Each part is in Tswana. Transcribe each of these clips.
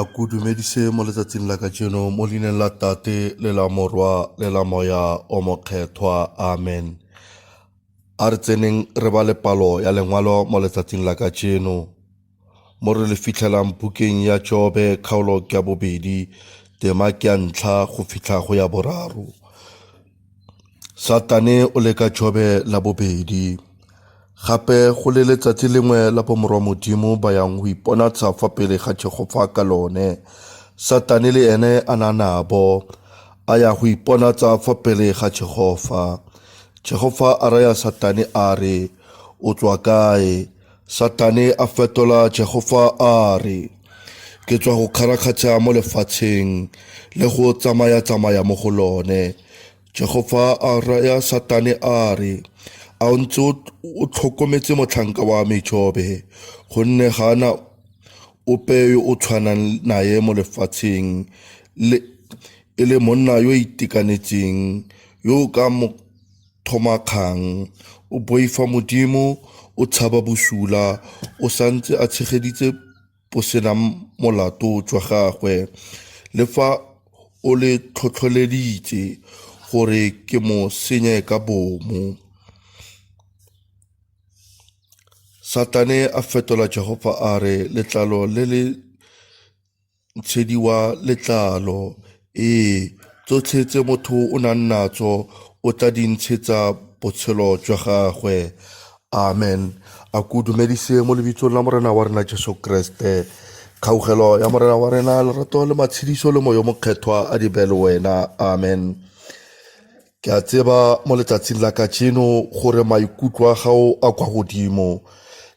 a ku dumedise mo letsatsing la kajeno mo leineng la tate le la morwa le la moya o mokgethwa amen a re tseneng re ba le palo ya lengwalo mo letsatsing la kajeno Mo re le fitlhelang bukeng ya Jobe kgaolo ke ya bobedi, tema ke ya ntlha go fitlha go ya boraro. Satane o leka Jobe la bobedi. Gape go le letsatsi lengwe la bomorwa Modimo ba yang go iponatsa fa pele ga Jehofa ka lone. Satane le ene a na nabo a ya go iponatsa fa pele ga Jehofa. Jehofa a raya Satane a re, O tswa kae? Satane a fetola Jehofa a re, Ke tswa go kgarakgatsha mo lefatsheng le go tsamaya-tsamaya mo go lone. Jehofa a raya Satane a re, A o ntse o tlhokometse motlhanka wa me Jobe, gonne ga na ope yo o tshwanang naye mo lefatsheng le e le monna yo itekanetseng yo ka mo Thoma kgang. O boifa Modimo, o tshaba bosula, o sa ntse a tshegeditse bosenang molato jwa gagwe, le fa o le tlhotlholeditse gore ke mo senye ka bomo. Satane a fetola Jehofa a re letlalo le le Ntshedi wa letlalo, Ee, tsotlhe tse motho o nang natso o tla di ntshetsa botshelo jwa gagwe. Amen. A ko dumedise mo lebitsong la Morena wa rena Jesu Kriste. Kgaugelo ya Morena wa rena, lerato le matshediso le moyo mokgethwa a di be le wena. Amen. Ke a tseba mo letsatsing la kajeno gore maikutlo a gago a kwa godimo.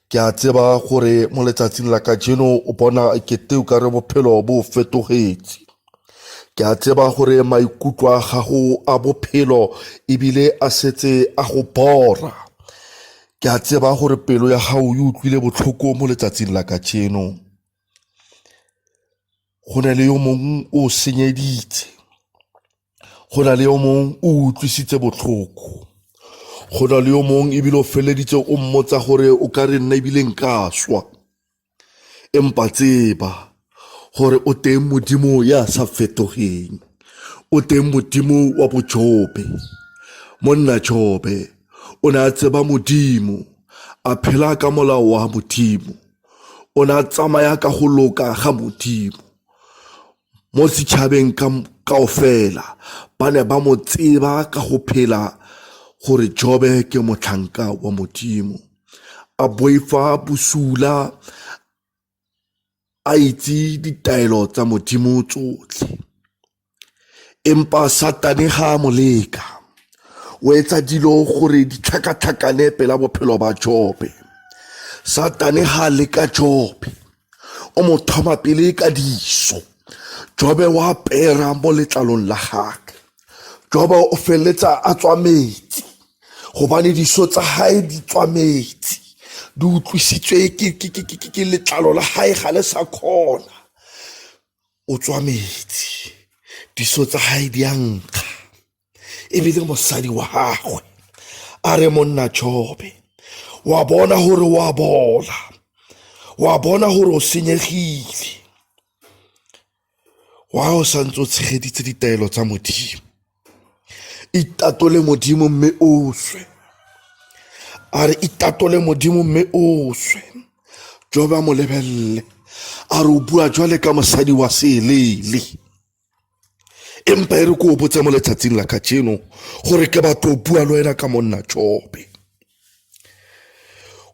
Ke a tseba gore mo letsatsing la kajeno o bona kete o ka re bophelo bo fetogetse. Ke a tseba gore maikutlo a gago a bophelo ebile a setse a go bora. Ke a tseba gore pelo ya gago e utlwile botlhoko mo letsatsing la kajeno. go na le yo mongwe o senyeditse go na le yo mongwe o utlwisitse botlhoko go na le yo mongwe ebile o feleleditse o mmotsa gore o ka re nna ebile nka swa empa tseba gore o teng modimo ya sa fetogeng o teng modimo wa bojobe monna jobe o ne a tseba modimo a phela ka molao wa modimo o ne a tsamaya ka go loka ga modimo mo setšhabeng kao fela ba ne ba mo tseba ka go phela gore jobe ke motlhanka wa modimo a boifa bosula a itse ditaelo tsa modimo tsotlhe empa satane ga a mo leka o etsa dilo gore di tlhakatlhakane pela bophelo ba jobe satane ga a leka jobe o mo thoma pele ka diso jobe wa pera mo letlalong la gage jobe o feleletsa a tswa metsi gobane diso tsa gae di tswa metsi di utlwisitswe ke letlalo la gae ga le sa kgona o tswa metsi diso tsa gae di a nkga ebile mosadi wa gagwe a re monna jobe wa bona gore wa bola wa bona gore o senyegile wa o santse o tshegeditse ditaelo tsa modimo itatole modimo mme o swe a re itatole modimo mme o swe joba mo lebelele a re o bua jwale ka mosadi wa seeleele empa e re ko o botse mo letsatsing la kajeno gore ke batho o bua le wena ka monna jobe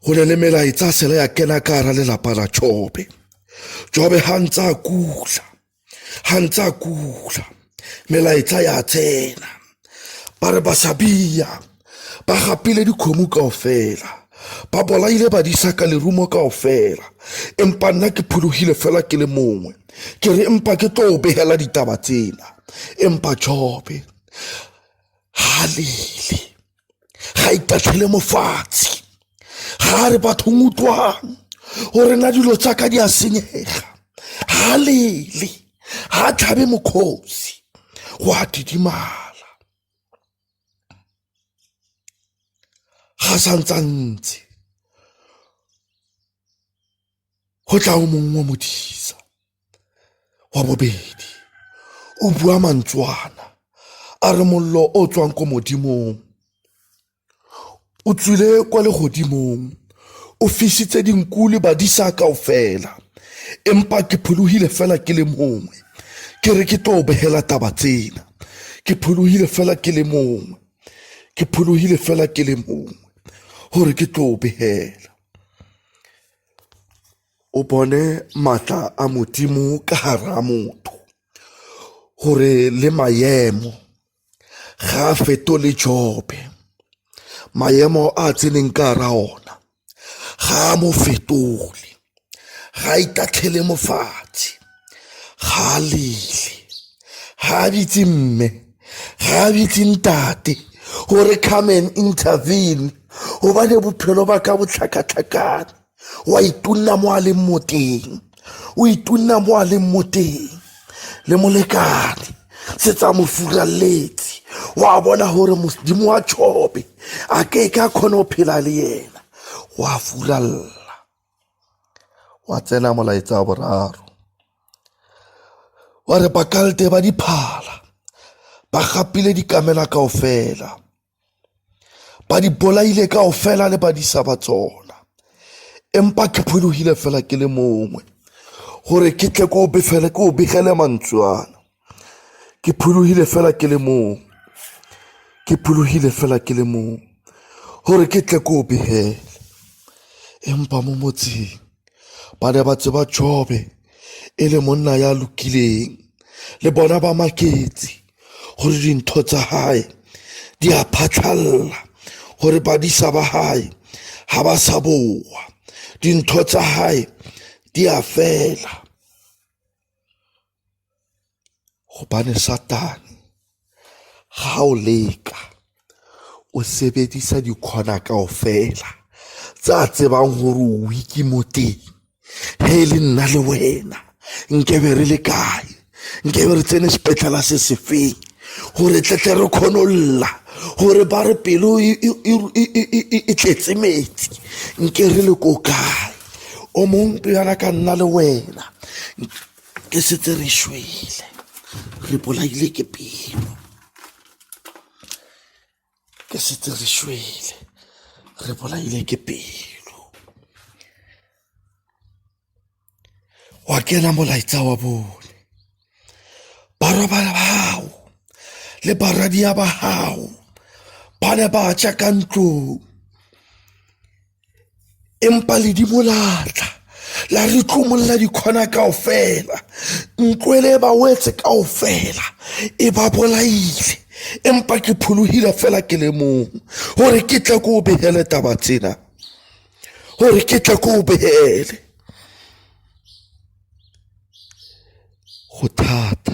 go ne le melaetsa sele ya kena ka gara lelapa la jobe jobe ga ntse a kula ga ntse a kula melaetsa ya tsena ba re basabia ba gapile dikgomo kao fela ba bolaile badisa ka lerumo kao fela empa nna ke phologile fela ke le mongwe ke re empa ke tlo o begela ditaba tsena empa jobe halele ga itatlhele mofatshe ga a re bathong utlwang o rena dilo tsaka di a senyega ga lele ga a tlhabe mokgosi go a didimala ga santsantse go tla o mongwe wa modisa wa bobedi o bua mantswana a re mollo o tswang ko modimong o tswile kwa legodimong o fisitse dinku le badisa kao fela empa ke phologile fela ke le mongwe ke re ke tlo begela taba tsena ke phologile fela ke le mongwe ke phologile fela ke le mongwe gore ke tlo begela o bone maatla a modimo ka gara motho gore le maemo ga a fetole jobe maemo a tseneng ka gara ona ga a mo fetole ga a itatlhele mofatshe ga a lele, ga a bitse mme, ga a bitse ntate gore come and intervene gobane bophelo ba ka botlhakatlhakane wa itunna mo a leng mo teng o itunna mo a leng mo teng le molekane se tsa mo furaletse wa bona gore modimo wa chobe a ke ka kgone go phela le yena wa furalla Gwa tsena molaetsa wa boraro wa re bakalde ba diphala ba gapile dikamela kao fela ba di bolaile kao fela le badisa ba tsona empa ke phologile fela ke le mongwe gore ke tle ke o befele ke o begele mantswe ana Ke phologile fela ke le mong, ke phologile fela ke le mong gore ke tle ke o begele. Empa mo motseng ba ne ba tseba Jobe e le monna ya lokileng, le bona ba maketse gore dintho tsa gae di a phatlhalla, gore badisa ba gae ga ba sa boa, dintho tsa gae di a fela. Gobane satane ga o leka o sebedisa dikhona kao fela tse a tsebang gore o weak mo teng he e le nna le wena nkebe re le kae nkebe re tsene sepetlala se se feng gore tletle re kgone o lla gore ba re pelo e tletse metsi nke re le ko kae o mongwe yana ka nna le wena re setse re shwele re bolaile ke pelo ke setse re shwele re bolaile ke pelo wa kena molaetsa wa bone barwa ba gago le baradia ba gago ba ne ba tša ka ntlong empa le di bolatla la re tlomolola dikgona kao fela ntlo ele e ba wetse kao fela e ba bolaile empa ke pholohile fela ke le mong gore ke tle ko o begele taba tsena gore ke tle ko o begele go thata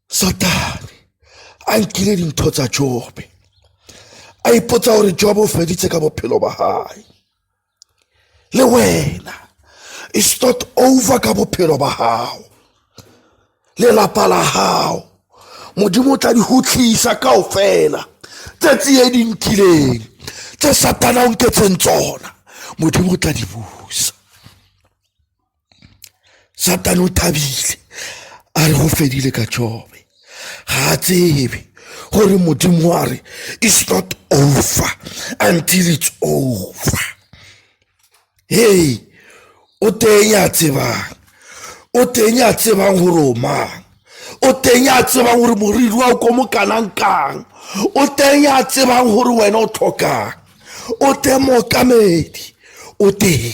satane a nkile dintho tsa jobe a ipotsa gore jobe o feditse ka bophelo ba gae le wena e start over ka bophelo ba gago lelapa la gago modimo o tla di gotlhisa kao fela tsatsi e di nkileng tse satana o nketseng tsona modimo o tla di busa satane o thabile a re go fedile ka jobe ga a tsebe gore modimo wa re is not over until it's over hey o teng a tsebang o teng a tsebang gore o mang o teng a tsebang gore moriri wa o ko mo kanang kang o teng a tsebang gore wena o tlhokang o teng mookamedi o teng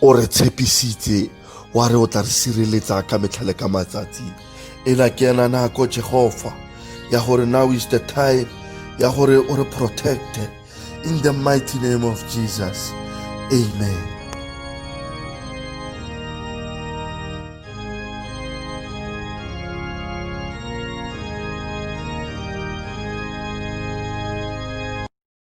o re tshepisitse wa re o tla re sireletsa ka metlha le ka matsatsi ena ke ena nako jehova ya gore now is the time ya gore o re protecte in the mighty name of jesus amen